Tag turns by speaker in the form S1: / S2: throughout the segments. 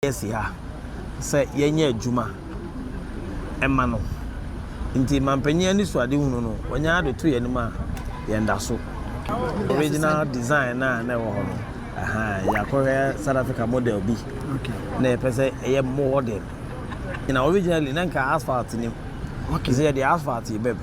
S1: yɛasi ha sɛ yɛnyɛ adwuma mma no. Enti mampanyin anisoadehunu no, wɔnyan ara de to yɛn anim a, yɛn da so. Original design no a na ɛwɔ hɔ no, yɛakɔhwɛ South Africa model bi na yɛpɛ sɛ ɛyɛ modern. Na originally na nka asphalt nim. Nti sɛ yɛde asphalt bam,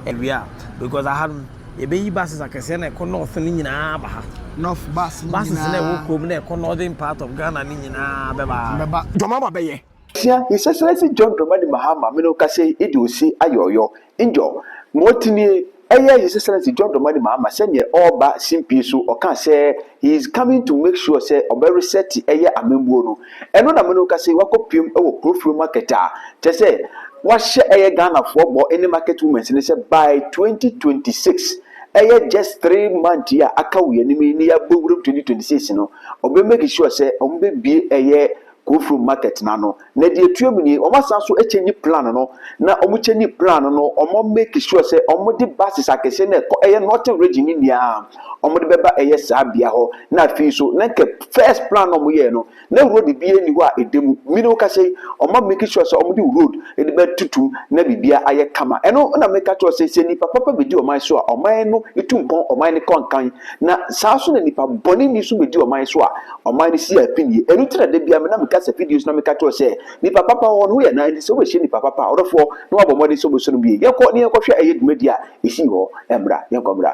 S1: ɛwia because aha no, Yɛbɛyi buses akɛseɛ na ɛkɔ north no nyinaa aba ha. North bus no nyinaa.
S2: Buses na ɛwɔ kurom
S1: na ɛkɔ northern part of Ghana no nyinaa bɛba ha. Bɛba. Dwama ba bɛyɛ.
S2: Sia yi sɛsɛrɛ
S3: si John Dramani Mahama mene wo kasa yi edi osi ayɔɔyɔ ndjɔ ma ɔte nie ɛyɛ His Excellency John Dramani Mahama sɛdeɛ ɔreba simpie so ɔkaa sɛ he is coming to make sure sɛ ɔbɛ reset ɛyɛ amambuo no ɛno na me no kase wakɔ piem ɛwɔ kurofuro market a kyɛ sɛ wahyɛ ɛyɛ Ghana foɔ bɔ ɛne market women's ne sɛ by 2026 ɛyɛ just three month yi a aka wɔ yɛnim yi ne yɛabɔ wuram 2026 no ɔbɛ make sure sɛ ɔmo bɛ bie ɛyɛ Kofrom market no ano na deɛ ɛtua mu nie, wɔasan nso change plan no na wɔn change plan no wɔn make sure sɛ wɔde buses akɛseɛ na ɛkɔ ɛyɛ northern region no nyinaa wɔde bɛba ɛyɛ saa bea hɔ na afei nso na nkɛ first plan na wɔyɛɛ no na road bi ani hɔ a ɛda mu mene wo kasa yi wɔn make sure sɛ wɔde road de bɛtutum na biribiara ayɛ kama ɛno na meka kyerɛ sɛ sɛ nipa papa bɛdi ɔman so a ɔman no tu mpɔn ɔman no kɔ nkan na saa nso na nipa bɔne ni nso bɛdi ɔman so a Ɔman no si apinie. Ɛno nti na da biara me na meka sɛ videos na meka kyerɛ sɛ nipa papa wɔ hɔ no woyɛ nan nti sɛ wobɛhyia nipa papa ɔdɔfoɔ na wabɔ mmɔden sɛ wobɛsɔ no bie. Yɛnkɔ na yɛnkɔhwɛ ɛyɛ dwumadi a ɛsii hɔ mmra. Yɛnkɔ mmra.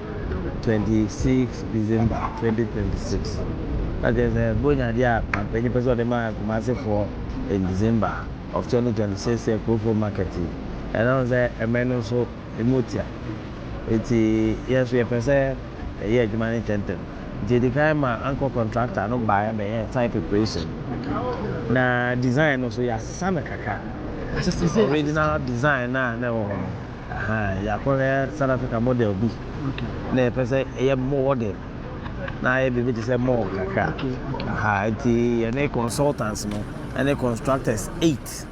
S1: twenty six December twenty twenty six na kyerɛ sɛ bonyadeɛ a Mampanyin pɛ sɛ ɔde ma Kumasefoɔ in December of twenty twenty six yɛ Kurofon market yi ɛno no sɛ mmɛ no nso ɛmu tia nti yɛn nso yɛpɛ sɛ yɛyɛ adwuma no ntɛntɛm nti yɛdi kan ma anchor contractor no baeɛ bɛyɛɛ site preparation na design no nso yɛasesa no kakra original design no a na ɛwɔ hɔ no. Ahaa yɛakɔ yɛ South Africa model bi na yɛpɛ sɛ yɛ mowɔ de na ayɛ biribi te sɛ mall kakra ahaa nti yɛne consultants no ɛne constructors eight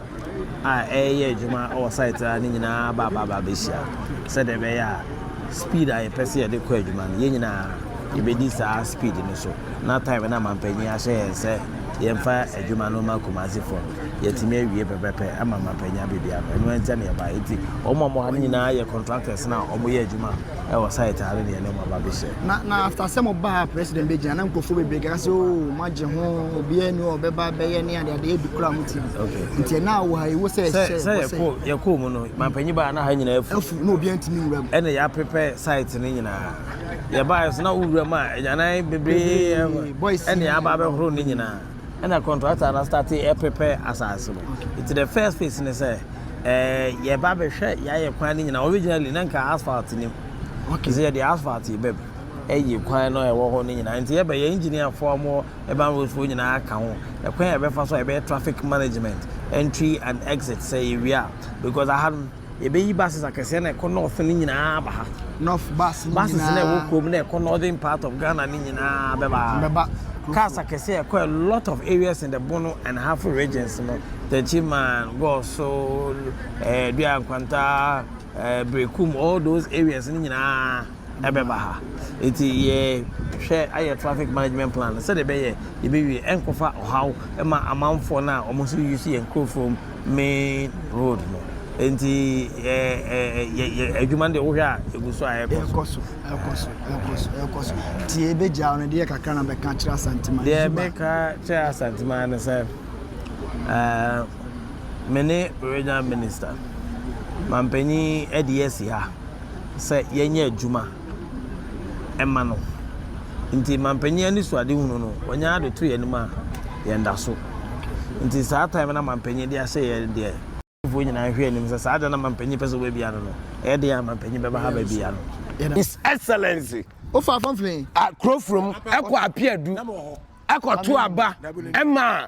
S1: a ɛyɛ adwuma wɔ site a ne nyinaa ba ba ba bɛhyia sɛdeɛ ɛbɛyɛ a speed a yɛpɛ sɛ yɛde kɔ adwuma no yɛn nyinaa yɛbɛdi saa speed no so na time na mampanyin ahyɛ yɛn sɛ yɛmfa adwuma no ma Kumasi fam. yɛatumi awie pɛpɛpɛ ama mapɛnya biribiara no ɛno ɛnkyɛ ne ɛbaeɛ nti wɔn a wɔn ha no nyinaa yɛ contractors na wɔyɛ adwuma ɛwɔ site ano ne ɛne wɔn aba bɛhyɛ. na na after sɛ mo baa
S4: president bɛgyina na nkurɔfoɔ bebree kaka sɛ oo oh, moagye ho obiara ni ɔbɛba bɛyɛ ne ade ade ɛdu koraa mo ti nti ɛna wɔ ha ɛwɔ sɛ ɛhyɛ sɛ yɛkɔɔ
S1: mu no mampanyi baa na ha nyinaa afu afu na obiara ntumi nwura mu
S4: ɛna yɛapepɛ site
S1: no nyinaa yɛbaeɛ so na wowura mu a ɛnyanan bebree ɛne aba bɛhoro ne nyinaa ɛna contractor no starte ɛ prepare asase no nti the first phase ne sɛ ɛɛ yɛ ba bɛ hwɛ yɛ ayɛ kwan ne nyina originally na nka asphalt nim okay sɛ yɛ de asphalt yɛ bɛ ɛyɛ kwan no ɛwɔ hɔ ne nyina nti yɛ bɛ yɛ engineer foɔ mo urban roads foɔ nyina aka ho ɛkwan yɛ bɛ fa so yɛ bɛ traffic management entry and exit sɛ yɛ wia because aha no Yɛbɛyi buses akɛseɛ na ɛkɔ north no nyinaa aba ha. North bus no
S4: nyinaa. Buses na ɛwɔ kurom na
S1: ɛkɔ northern part of Ghana no nyinaa bɛba ha. Bɛba. Cars akɛseɛ a ɛkɔ a lot of areas in the Bono and Ahafo regions no. Techiman, Goso, eh, Dua Nkwanta, eh, Berekum, all those areas no nyinaa ɛbɛba ha. Eti yɛ hwɛ ayɛ traffic management plan sɛdeɛ ɛbɛyɛ yɛbɛwie ɛnkɔfa ɔhaw ɛma amanfoɔ no a wɔn nso use yɛn nkurɔfoɔ mu. main road no nti yɛ adwuma no deɛ wohwɛ a ɛgu so a ɛkɔ so ɛkɔ so ɛkɔ
S4: so ɛkɔ so nti yɛbɛgya wo no deɛ kakra na bɛka kyerɛ asanteman deɛ meka
S1: kyerɛ asanteman no sɛ me ne regional minister mampanyin ɛde asi ha sɛ yɛnyɛ adwuma ɛma no. Nti mampanyin anisoadehunu no, ɔnyaa de to yɛn anim a, yɛn da so. Nti saa time na mampanyin de ahyɛ yɛn deɛ Ghanafoɔ nyinaa nhwɛ anim sɛ saa da na mampanyin pɛ sɛ ɔbɛbia no no, ɛyɛ
S5: den a mampanyin bɛba ha bɛbia no. His Excellency. Wofa Afamfini.
S4: Akurofurom
S5: kɔ Apeadu kɔ to aba ma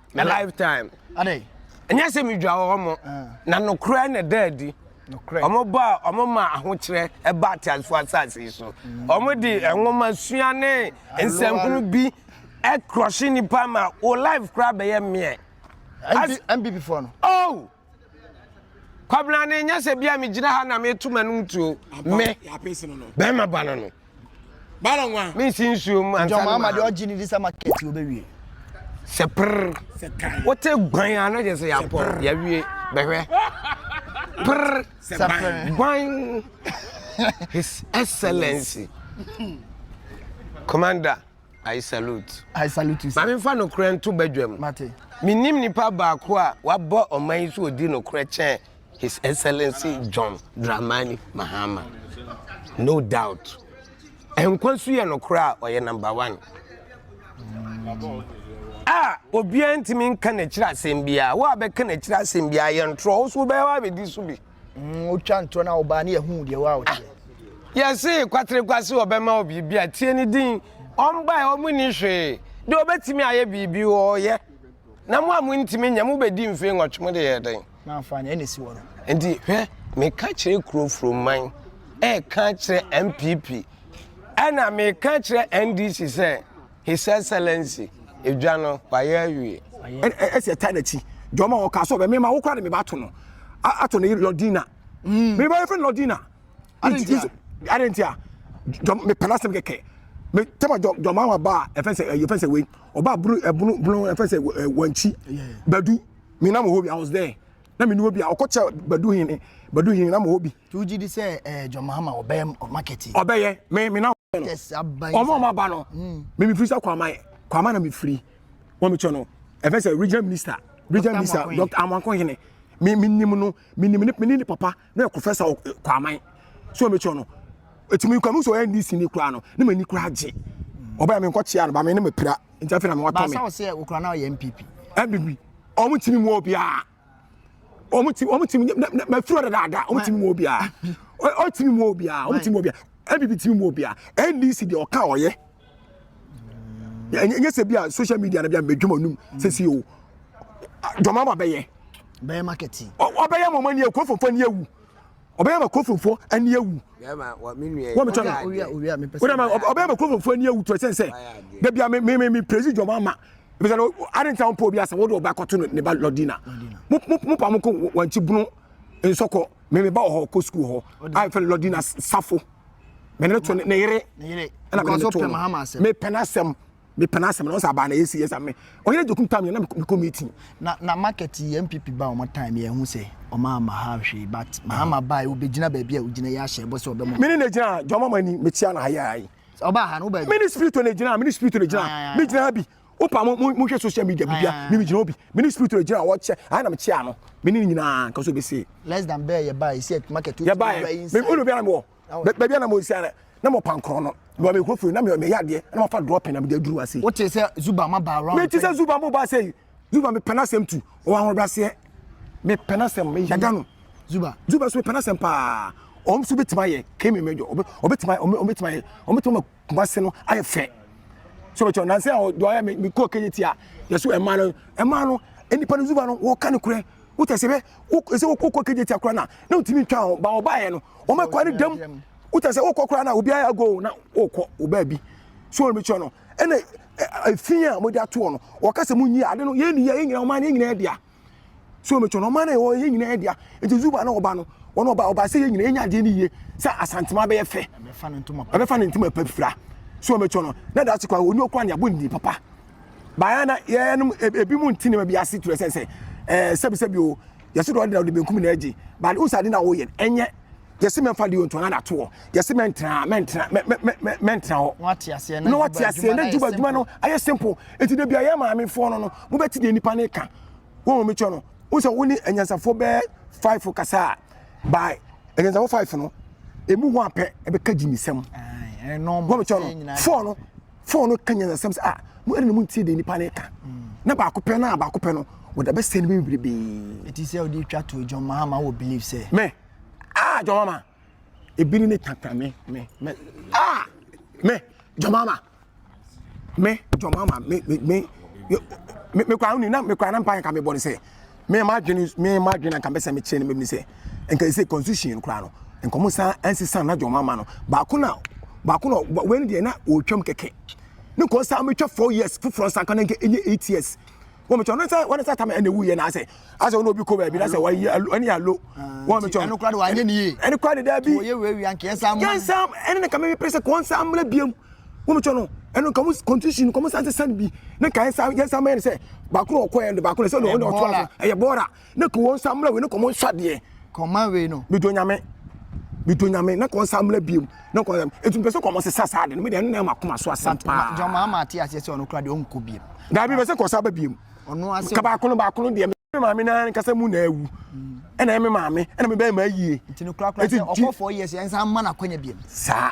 S5: na lifetime adai
S4: ɛnyɛ sɛ medwa
S5: wɔ mo na nokorɛ na ɛda adi wɔn ba
S4: a wɔn ma
S5: ahokyerɛ ɛba ateasefoɔ asase yi so wɔn de nwoma sua ne nsɛnkunu bi ɛkorɔhye nipa ma o life koraa bɛyɛ mmeɛ. npp
S4: foɔ no. oh
S5: Kwabena ne nyɛ sɛ bia megyina ha na meto m'anom tuo me
S6: bɛrima ba no
S5: no
S6: mensi nsuo mu
S5: ansa
S4: no ma
S5: sɛ
S4: prr
S5: wote gwan a na kyɛ
S4: sɛ
S5: yɛapɔ yɛawie bɛhwɛ prr gwan his excellency commander I salute. I salute you, sir. Maame
S4: fa nokorɛ nto
S5: badwam. Mate. Menim
S4: nipa
S5: baako a wabɔ ɔman yi so ɔdi nokorɛ kyɛn His Excellency John Dramani Mahama. No doubt. Nkwa su yɛ nokorɛ a ɔyɛ number one. A obiara ntumi nka n'akyiri asɛm biara. Wo a bɛka n'akyiri asɛm biara yɛ ntorɔ, wo nso wobɛyɛ w'abɛdi so bi. Mm, wotwa ntorɔ
S4: na wobaa ne yɛhuu deɛ woa woteɛ. Yɛse
S5: kwaterekwa se ɔbɛma wo biribi a tie ne din. Ɔmbae ɔmo ni hwee. Deɛ ɔbɛtumi ayɛ biribi ɔɔyɛ. Na mo a mo ntumi nyɛ mo bɛdi mfei nwɔtwe mo de yɛ dɛn? Mamfa nea ɛna si wɔ no.
S4: Nti hwɛ
S5: meka kyerɛ kuro furoman ɛɛka kyerɛ MPP ɛna meka kyerɛ NDC sɛ His Excellency, edwa no, wayɛ awie. Ɛna ɛsɛ ɛtaa
S6: n'akyi. Deɛ ɔma wɔn kaa sɛ ɔbɛ mema wo koraa de meba ato no ato ne Lordina. Mm. Meba yɛfrɛ no Lordina. Adentia. Adentia. Deɛ mepɛ n'asɛm kɛkɛ. Me tɛma deɛ deɛ ɔma wɔn aba a ɛfɛ sɛ ɛyɛ fɛ sɛ wei ɔba bunu ɛbunu bunu ɛfɛ sɛ wɔnkyi badu. Me nam hɔ bi I was there. Na me ni obi a ɔkɔkyɛ badu hin badu hin nam hɔ bi. Nti wogye di sɛ eh,
S4: John Mahama ɔbɛyɛ market yi? Ɔbɛyɛ me me na
S6: ɔbɛyɛ no. Yes, aban. Ɔmo
S4: ɔmo aba no.
S6: Mm. Me me firi sɛ kwama kwama na me firi. Wɔn me kyɛ no. Ɛfɛ sɛ regional minister regional minister Dr. Amankohene. Me me nim no me nim ne ne papa na professor kwama. So me kyɛ no. Etimi kwama so NDC ni kura no. Ne me ni kura gye. Ɔbɛyɛ me nkɔ kyea no ba me ne me pira. Nti afei na me watɔ me. Ba sa ɔsɛ okura na ɔyɛ MPP.
S4: MPP. Ɔmo
S6: timi mu obiara. wɔn ti wɔn ti mɛ firi ɔdada ada wɔn ti mu obiara ɔti mu obiara wɔn ti mu obiara ɛbi bi ti mu obiara ndc deɛ ɔka ɔyɛ ɛnyɛ sɛ bi a social media na bi a mɛ dwuma num sisi o dɔm ama bɛyɛ bɛyɛ marketing
S4: ɔbɛyɛ mɔmɔ ni
S6: eku fofo ni ewu. ɔbɛyɛ ma kurofomfoɔ ani awu
S5: wɔ me channel
S6: wode ma
S4: ɔbɛyɛ ma kurofomfoɔ ani
S6: awu to ɛsɛn sɛ da bia me me me praise dwom ama ebisa no ade ntina mpo obi asɛ wode ɔba kɔto no ne ba lɔdina mo pa mo ko wankyi bono nsɔkɔ me me ba wɔ hɔ kɔ sukuu hɔ a mfɛ lɔdina safo me ne to ne yere ɛna me ne to
S4: no me pɛ n'asɛm mepɛ
S6: n'asɛm na ɔsɛ abaa na yɛsi yɛsa me ɔyere dokum time yɛ na mekɔ meeting na na market
S4: yɛ mpp ba ɔmo time yɛ ho sɛ ɔmo ama ha hwee but mahama baa yɛ ɔbɛgyina baabi a ɔgyina yɛ ahyɛ ɛbɔ sɛ ɔbɛmɔ mene na gyina ha jɔma
S6: mani metia na ha yɛ ayi ɔbaa ha no wobaa
S4: mene spirit na gyina mene
S6: spirit na gyina me gyina ha bi wopa mo mo hwɛ social media bibia me me gyina obi mene spirit na gyina wɔkyɛ ha na mekyia no mene nyinaa nka so bɛsi less than bɛɛ yɛ baa yɛ
S4: si market yɛ baa yɛ me
S6: ɔno bia na mewɔ baabi a na mo nsia na mo pan korɔn no na me kuro firi na me yɛ adeɛ na ma fa dɔɔ pɛn na me de aduru ase. o te sɛ zuba ma
S4: ba round. me te sɛ zuba mo ba ase
S6: yi zuba me pɛn asɛm tu ɔwɔ ahoɔ braseɛ me pɛn asɛm me yada no zuba zuba so me pɛn asɛm paa ɔm so bɛtumi ayɛ kemi mɛdɔ ɔbɛtumi ayɛ ɔbɛtumi ayɛ ɔbɛtumi ma Kumasi no ayɛ fɛ so bɛtɔ nansa a ɔdɔ ayɛ mi kɔ kɛnyɛ ti a yɛso ɛmaa no ɛmaa no nipa no zuba no wɔka no korɛ wotɛ sɛ bɛ sɛ wokɔ kɔ kɛnyɛ ti akora na na wotumi ntwa ho ba ɔbaeɛ no wɔn akɔ ne dam wotɛ sɛ wokɔ koraa na obi ayɛ ago na wokɔ obaa bi so wɔn bɛtɔ no ɛna efi a wɔde atoɔ no wɔka sɛ mo nyi ade no yɛn ni yɛ yɛn nyinaa wɔn ayɛ nyinaa dea so me tɔnɔ ɔman na ɛwɔ yɛ nyinaa dea nti zuba na ɔba no wɔn ɔba ɔba sɛ yɛ nyinaa yɛnya adeɛ no yie sɛ asantema bɛyɛ fɛ ɛbɛfa ne ntoma pɛ fira so me tɔnɔ na da ase kwa oni okura ne abo ndi papa baya na yɛnom e, e, ebi mu nti ne ma bi ase kyerɛ sɛ sɛ ɛɛ sɛbi sɛbi o yɛsi dɔɔ de na ɔde benkum na ɛgye baade o sɛ ade na ɔyɛ ɛnyɛ yɛsi mɛ nfa di ontu ana to hɔ yɛsi mɛ ntina mɛ ntina mɛ mɛ mɛ mɛ ntina hɔ na wate aseɛ
S4: na wate aseɛ na adwuma
S6: adwuma no ayɛ simple eti de bi a yɛ maame foɔ no no mo bɛ ti deɛ nipa ne ka wɔn wɔn mi kyɛ no wɔn sɛ wɔn ni anyansafoɔ bɛɛ five kasa by anyansafoɔ five no emu hɔ apɛ ɛbɛ ka gyimi sɛm wɔn
S4: mi kyɛ no
S6: four no four no ka nyansasɛm sɛ ah mo ɛna mo ntie deɛ nipa ne ka na baako pɛ na baako pɛ no wɔde bɛ sɛ no bɛ bebrebe. eti sɛ ɔde twa to
S4: dwom maa ma wɔ believe sɛ. mɛ. ah
S6: jɔn mama ebiri ne tata me me me ah me jɔn mama me jɔn mama me me me me me kura ni na me kura na mpa nka me bɔ ne sɛ me ma adwene me ma adwene nka mbɛsɛ me kyerɛ ne me sɛ nka ɛsɛ constitution kura no nka mo san ɛnsesa na jɔn mama no baako na baako na wɛn deɛ na ɔretwam kɛkɛ ne nkɔn san metwa four years foforɔ nsa nka na nka ɛnyɛ eight years. wɔn mi kyɛn ɔno sɛ wɔn sɛ atama ɛna ewu yɛ na asɛ asɛ wɔn obi kɔ baabi na sɛ wɔyi alo ɛni alo wɔn mi kyɛn ɛni kura de wɔn anyɛ ni yie
S4: ɛni kura de daabi wɔyɛ wura
S6: wia nkɛ
S4: nsa
S6: mu yɛn sam
S4: ɛni
S6: ne kame mi pere sɛ kɔn nsa amuna
S4: biem
S6: wɔn mi kyɛn no ɛni kɔn mu kɔntusi no kɔn mu sanse san bi ne ka yɛn sam yɛn sam yɛn sɛ baako na ɔkɔ yɛn de baako na sɛ ɔno ɔtɔ ɛyɛ bɔɔla Ne kɔ wɔn nsa mmerɛ wei ne kɔ mo nsɔ adeɛ. Kɔ ma wei no.
S4: Bido nyame.
S6: Bido nyame ne kɔ nsa mmerɛ biom ne kɔ nsam. Etu mpɛ sɛ kɔ mo sesa saa de no mi deɛ ɛno na ɛma koma so asɛm paa. Jɔn maa maa ate aseɛ sɛ
S4: ɔno kura deɛ ɔnkɔ biom. Daabi bɛ sɛ kɔ sa ba
S6: biom. Ɔno ase. Ka baako
S4: no baako no deɛ
S6: me maame na nkasa mu na awu ɛna ɛme maame ɛna me bɛyɛ maa yie. Nti no kura kura sɛ
S4: ɔkɔ four years ɛnsa ama na kɔ nya biom. Saa.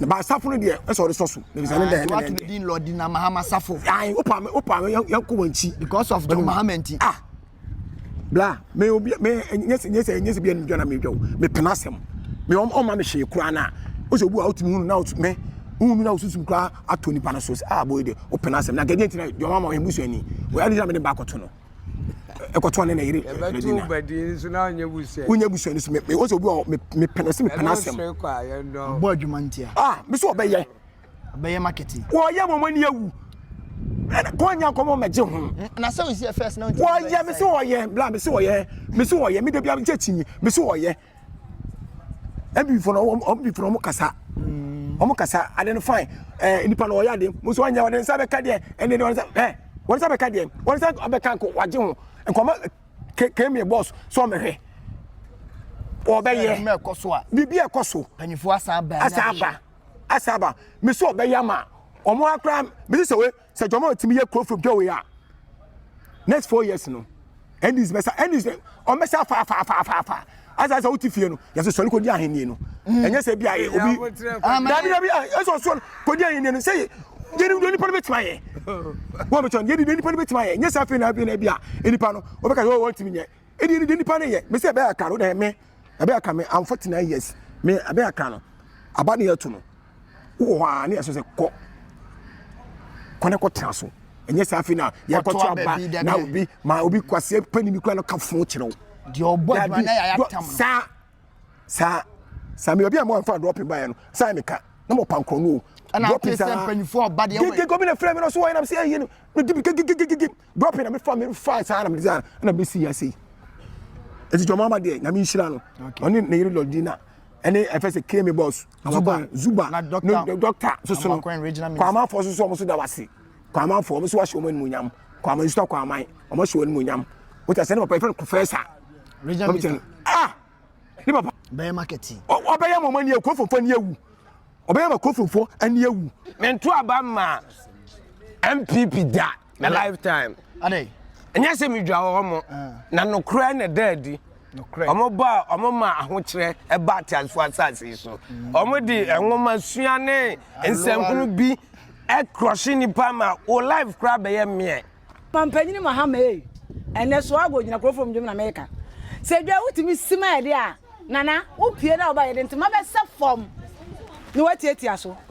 S6: na ba asafo no deɛ ɛsɛ ɔde sɔ so na bisa ne dɛ ɛna ɛdɛ din lɔdi na mahama
S4: safo ayi opa mi opa
S6: mi yɛn kɔ wɔn akyi because of john mahama
S4: nti ah bla
S6: mɛ obi mɛ nyɛsɛ nyɛsɛ nyɛsɛ bi ɛnu dwa na mɛ dwa o mɛ pɛn asɛm mɛ ɔm ɔma mi hyɛ kura na o sɛ obi wa o ti mi hunu na o ti mɛ hunu na o susu kura ato nipa na so sɛ ah boy de o pɛn asɛm na gɛdɛ ntina john mahama ɔyɛ musu ɛni o yɛ adi na mɛ de ba akɔto no. ɛkɔtɔ ne na yere ɛbɛto badi nso na ɔnyɛ busua wonyɛ busua no so me ɔsɛ obi ɔ me pɛ no sɛ me pɛ n'asɛm bɔ adwuma ntia
S4: ah me sɛ ɔbɛyɛ
S6: ɔbɛyɛ
S4: marketing wɔyɛ wɔn ani awu
S6: kɔnya nkɔmɔ mɛgye ho na sɛ ɔsi first
S4: na ɔyɛ me sɛ ɔyɛ
S6: bla me sɛ ɔyɛ me sɛ ɔyɛ me da bia nkyɛ kyi me sɛ ɔyɛ Ebifo no wɔn wɔn bifo no wɔn kasa. Wɔn kasa ade no fine. Ɛɛ eh, nipa no ɔyɛ ade mo nso ɔnyɛ ɔde nsa bɛka deɛ ɛne deɛ ɔde nsa ɛɛ wɔn nsa bɛka deɛ wɔn nsa bɛka nko wagye ho nkɔmɔ ke kemi bɔs so ɔmɛhwɛ ɔbɛyɛ ɛkɔ so a
S4: biribi ɛkɔ so mpanyinfoɔ
S6: asan ba
S4: asan ba asan ba mesi
S6: ɔbɛyɛ ama wɔn akora mesi sɛ wei. Sɛ John Mahama tumi yɛ kuro from Joe a next four years no NDC bɛsa NDC wɔn bɛsa afa afa afa afa afa asa sɛ wote fie no yɛsɛ sɔre kɔdi ahenni no mm. ɛnyɛ sɛ bi a obi dabi dabi ɛsɛ sɔre kɔdi ahenni no sɛ yɛnim deɛ nipa no bɛtumi ayɛ wɔn bɛtumi ayɛ yɛnim deɛ nipa no bɛtumi ayɛ nyɛ sɛ afei na afei na bi a nipa no wɔbɛka sɛ wɔn ntumi nyɛ ɛdi yɛnim deɛ nipa no yɛ mɛ sɛ ɛbɛyɛ aka no na ɛmɛ ɛbɛyɛ aka mɛ I'm forty nine years mɛ ɛbɛyɛ aka no aba ne yɛ to no. wowɔ hɔ a ne yɛsɛ sɛ kɔ kɔ ne kɔtena so ɛnyɛ sɛ afei na yɛkɔto aba na obi ma obi kwaseɛ pani bi kora no ka fo kyerɛ wo
S4: saa saa
S6: saa me obi a moamfa drɔpe baeɛ no saa meka na mɔpa nkorɔ no o drɔpe
S4: saa gege gomi na frɛ me no so wɔyɛ
S6: nam sɛ ɛyɛ no medi bi gegegegege drop na mefa me fa saa na mede saa na mesi yɛ sei ɛti tɔmɔ ama deɛ nyame nhyira no ɔne ne yere lɔdina ɛne ɛfɛ sɛ kame boss zuba zuba ne dɔkta soso no kwamanfoɔ soso ɔmo so da wase kwamanfoɔ ɔmo so wahyɛ ɔmo animonyam kwaman nsuta kwaman ɔmo hyɛ ɔmo animonyam wotɛ sɛ ne papa ɛfɛ no kofɛsa ah ne papa bɛyɛ makɛti
S4: ɔbɛyɛ mɔmɔ ani
S6: akurofofoɔ ani awu ɔbɛyɛ ma akurofofoɔ ani awu mento aba ma
S5: mpp da na lifetime
S4: ɛnyɛ sɛ medwa
S5: wɔ hɔ mo ah. na nokorɛ na ɛda adi wɔn ba a wɔn ma ahokyerɛ ɛba ateasefo asase so mm. wɔn de nwoma sua ne nsɛmhunu bi ɛkrɔhye nipa ma o life kora bɛyɛ mmeɛ. Mampanyin
S7: Mahama ei, ɛnɛ Soago Gyinakurofo ndwom na meka. Sɛ dwa wotumi si ma yɛde a, Nana, wopue na woba yɛde ntoma bɛsɛ fam na woatiatia so.